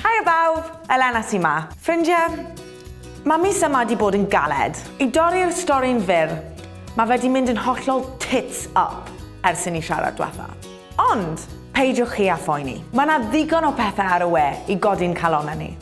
Haia bawb, Elena sy 'ma. Ffrindie, ma' mis yma 'di bod yn galed. I dorri'r stori'n fyr, ma' fe 'di mynd yn hollol tits up ers i ni siarad dwetha. Ond, peidiwch chi â phoeni, ma' 'na ddigon o pethe ar y we i godi'n calonne ni.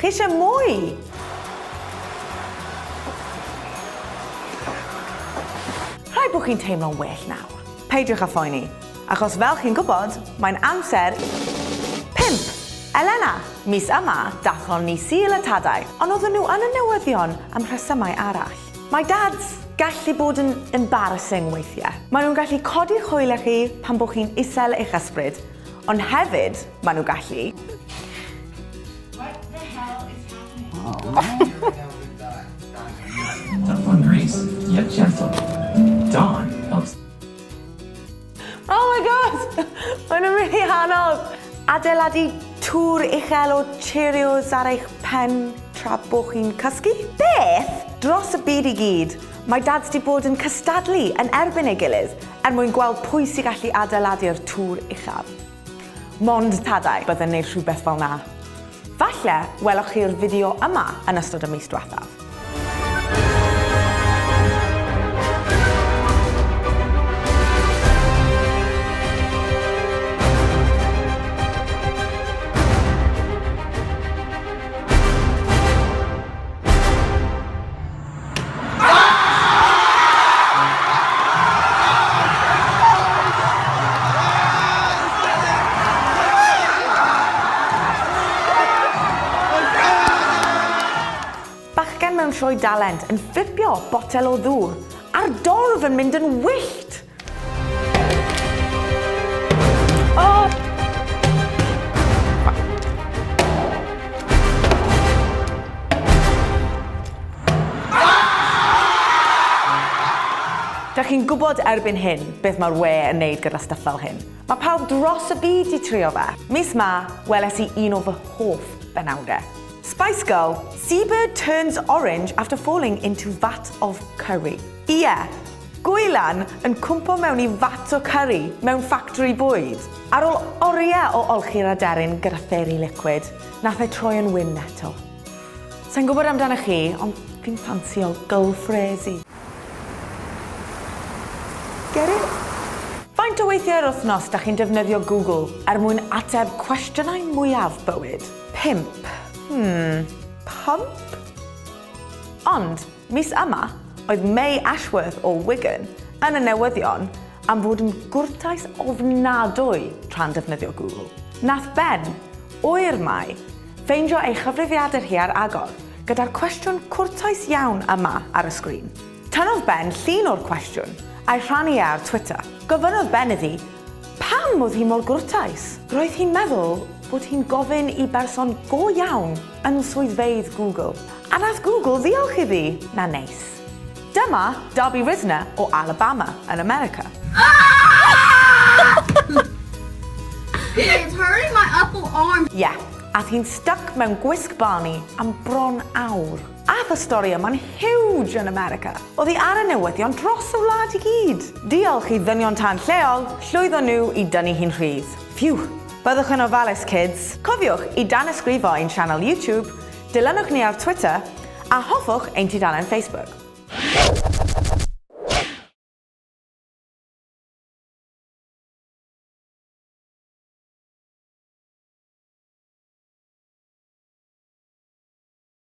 Chi eisiau mwy? Rhaid bod chi'n teimlo'n well nawr. Peidiwch â phoeni, achos fel chi'n gwybod, mae'n amser... Pump! Elena! Mis yma, dathon ni Sul y Tadau, ond oedden nhw yn y newyddion am rhesymau arall. Mae dads gallu bod yn embarrassing weithiau. Maen nhw'n gallu codi hwyl â chi pan bod chi'n isel eich ysbryd, Ond hefyd, maen nhw gallu... What the hell is happening? Oh my god! Maen nhw'n rili anodd! Adeiladu tŵr uchel o Cheerios ar eich pen tra bo chi'n cysgu? Beth dros y byd i gyd Mae dads 'di bod yn cystadlu yn erbyn ei gilydd er mwyn gweld pwy sy gallu adeiladu'r tŵr uchaf. Mond tadau bydd yn neud rhywbeth fel 'na. Falle weloch chi'r fideo yma yn ystod y mis dwethaf. Bachgen mewn sioe dalent yn fflipio botel o ddŵr a'r dorf yn mynd yn wyllt! Dych chi'n gwybod erbyn hyn beth mae'r we yn neud gyda stuff fel hyn. Mae pawb dros y byd i trio fe. Mis ma, weles i un o fy hoff benawde. Spice Girl, Seabird turns orange after falling into vat of curry. Ie, yeah, Gwylan yn cwmpo mewn i fat o cyrri mewn ffactori bwyd. Ar ôl oriau o olchi'r aderyn gyda fairy liquid, nath e troi yn wyn eto. Sai'n gwybod amdanoch chi, ond fi'n ffansio gylfresi. Get it? Faint o weithiau yr wythnos dach chi'n defnyddio Google er mwyn ateb cwestiynau mwyaf bywyd? Pump. Hmm, pump? Ond, Mis yma, oedd May Ashworth o Wigan yn y newyddion am fod yn gwrtais ofnadwy tra'n defnyddio Google. Nath Ben, oer Mai, ffeindio ei chyfrifiadur hi ar agor, gyda'r cwestiwn cwrtais iawn yma ar y sgrin. Tynnodd Ben llun o'r cwestiwn, a'i rhannu e ar Twitter. Gofynnodd Ben iddi Pam oedd hi mor gwrtais? Roedd hi'n meddwl bod hi'n gofyn i berson go iawn yn swyddfeydd Google. A nath Google ddiolch iddi? Na neis. Dyma Darby Rizner o Alabama yn America. He is hurting my upper arm. Ie, ath hi'n styc mewn gwisg Barney am bron awr. Ath y stori yma'n huge yn America. Oddi ar y newyddion dros y wlad i gyd. Diolch i ddynion tân lleol, llwyddo nhw i dynnu hi'n rhydd. Phew! Byddwch yn ofalus kids! Cofiwch i danysgrifo ein sianel YouTube, dilynwch ni ar Twitter, a hoffwch ein tudalen Facebook.